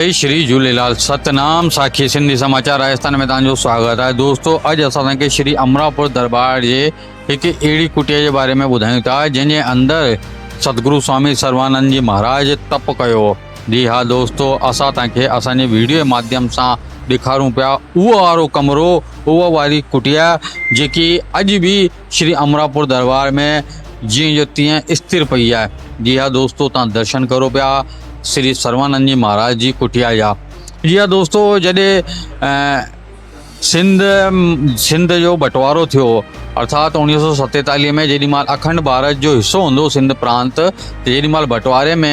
جي شري جهوليلال ستنام ساکي سنڌي سماچار راجستان ۾ توهان جو سواگت آهي دوستو اڄ اسان توهان کي شري امراپور درٻار جي هڪ اهڙي ڪٽيا جي باري ۾ ٻڌايون ٿا جنهن جي اندر ستگرو سوامي سروانند جي مهاراج تپ ڪيو هو جي ها دوستو اسان توهان کي اسان جي ويڊيو جي ماڌيم سان ڏيکارون پيا اهو وارو ڪمرو اهو واري ڪٽيا جيڪي اڄ به شري امراپور درٻار ۾ جيئن جو تيئن استر پئي آهي. جي ها دوستو تان درشن ڪرو پيا شري سروانند جي مهاراج جي ڪٽيا جا. جي ها دوستو جڏي سنڌ سنڌ جو بٽوارو ٿيو ارٿات اوڻيهه سئو ستيتاليهه ۾ جيڏي مهل اکنڊ ڀارت جو حصو هوندو سنڌ پرانت ته جيڏي مهل بٽواري ۾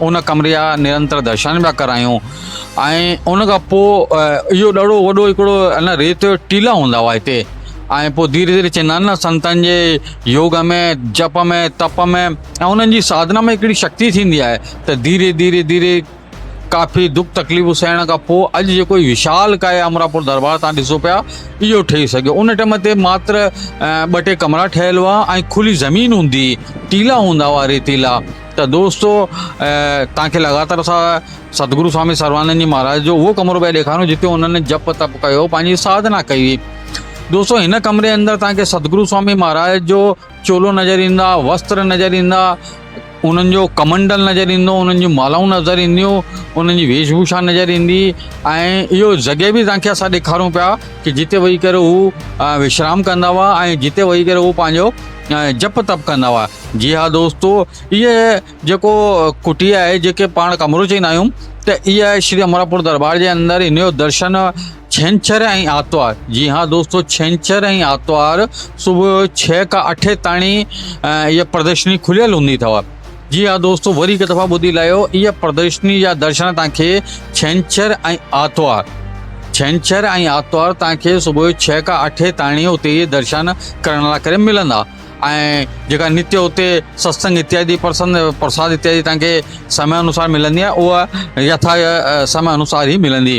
ان ڪمري جا نرنتر درشن پيا ڪرايون ۽ ان کان پوء اهو ڏاڍو وڏو هڪڙو ان ريت جو ٽيلا هوندا هئا هتي ۽ پوء ڌيري ڌيري چيندا آهن نه سنتن جي يوگ ۾ جپ ۾ تپ ۾ ۽ انهن جي ساڌنا ۾ هڪڙي شڪتي ٿيندي آهي ته ڌيري ڌيري ڌيري ڪافي دک تڪليفون سهڻ کان پوء اڄ جيڪو وشال ڪايا امراپور دربار تان ڏسو پيا اهو ٺهي سگهيو ان ٽائيم تي ماتر ٻه ٽي ڪمرا ٺهيل هئا ۽ کلي زمين هوندي ٽيلا هوندا هئا ريتيلا ته دوستو توهان کي لڳاتار اسان سدگرو سوامي سرواڻند جي مهاراج جو اهو ڪمرو پيا ڏيکاريون جتي انهن جپ تپ ڪيو پنهنجي ساڌنا ڪئي هئي دوستو هن ڪمري اندر توهان کي سدگرو سوامي مهاراج جو چولو نظر ايندا وستر نظر ايندا انهن جو ڪمنڊل نظر ايندو انهن جون مالائون نظر اينديون انهن جي ويش ڀوشا نظر ايندي ۽ اهو جڳهه به توهان کي اسان ڏيکاريون پيا ڪي جتي ويهي ڪري هو وشرام ڪندا هئا ۽ جتي ويهي ڪري هو پنهنجو ۽ جپ تپ ڪندا هئا. جي ها دوستو اهي جيڪو ڪٽي آهي جيڪي پاڻ ڪمرو چئندا آهيون ته اها شري امراپور درٻار جي اندر ان جو درشن ڇنڇر ۽ آرتوار جي ها دوستو ڇنڇر ۽ آرتوار صبح جو ڇهه کان اٺ تائين اها پردرشني کليل هوندي اٿو. جي ها دوستو وري هڪ دفعا ٻڌي لاهيو اها پردرشني جا درشن توهان کي ڇنڇر ۽ آرتوار ڇنڇر ۽ آرتوار توهان کي صبح جو ڇهه کان اٺي تائڻي اتي اهي درشن ڪرڻ لاء ڪري ملندا ۽ جيڪا نتي اتي ستسنگ اتيادي پرسن پرساد اتيادي توهان کي سمي انوسار ملندي آهي اها يٿا سمي انوسار هي ملندي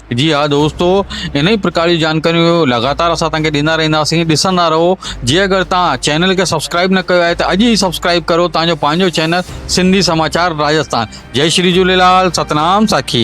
جي ها دوستو انهي پرڪار جون جانڪاريون لڳاتار اسان توهان کي ڏيندا رهنداسين ڏسندا رهو جي اگر توهان چينل کي سبسڪرائيب نه ڪيو آهي ته اڄ ئي سبسڪرائيب ڪرو توهان جو پنهنجو چينل سنڌي سماچار راجسٿان جئي شري جهوليلال ستنام ساکي.